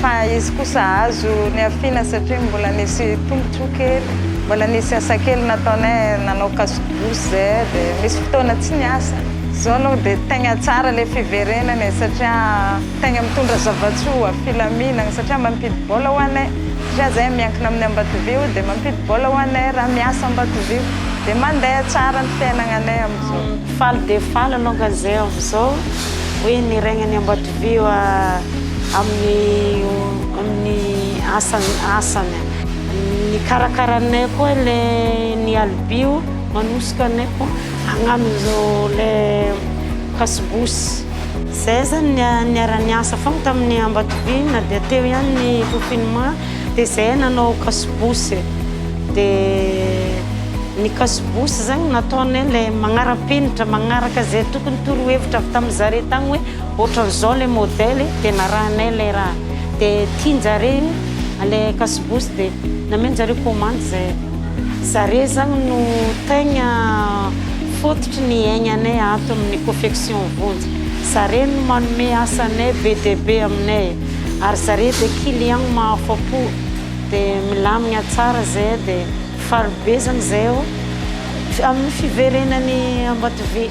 Fa izy kosa azo niafiana satria mbola nisy tombotsoa kely, mbola nisy asa kely nataonay, nanao casse-douche zay dia misy fotoana tsy niasa. Zao aloha dia tegna tsara le fiverenana e satria tegna mitondra zava-tsoa, filaminagna satria mampidi bola ho anay satria zahay miankina amin'ny Ambatovio dia mampidi bola ho anay raha miasa Ambatovio dia mandeha tsara ny fiainagnanay amizao. Faly dia faly alongany zahay amizao hoe niraigna ny Ambatovio. Eo amin'ny amin'ny asany asany. Ny karakaranay koa le ny alibio manosika anay koa hagnano zao le kasibosy. Zay zany ny niara-niasa fôgna tamin'ny Ambatovy na dia teo ihany ny confinement de zay nanao kasibosy de ny kasibosy zany nataonay le magnara-penitra magnaraka zay tokony torohevitra avy tamin'ny zare tagny hoe. Ohatran'izao le modèle e, de narahinay le raha de tianjare le kasibosy de namenjareo commande zay. Zare zany no tegna fototry ny aignanay ato amin'ny Confection Vonjy. Zare no manome asa anay be dia be aminay ary zare de client mahafapo de milamigna tsara zay de faly be zany zahay amin'ny fiverenan'i Ambatovy.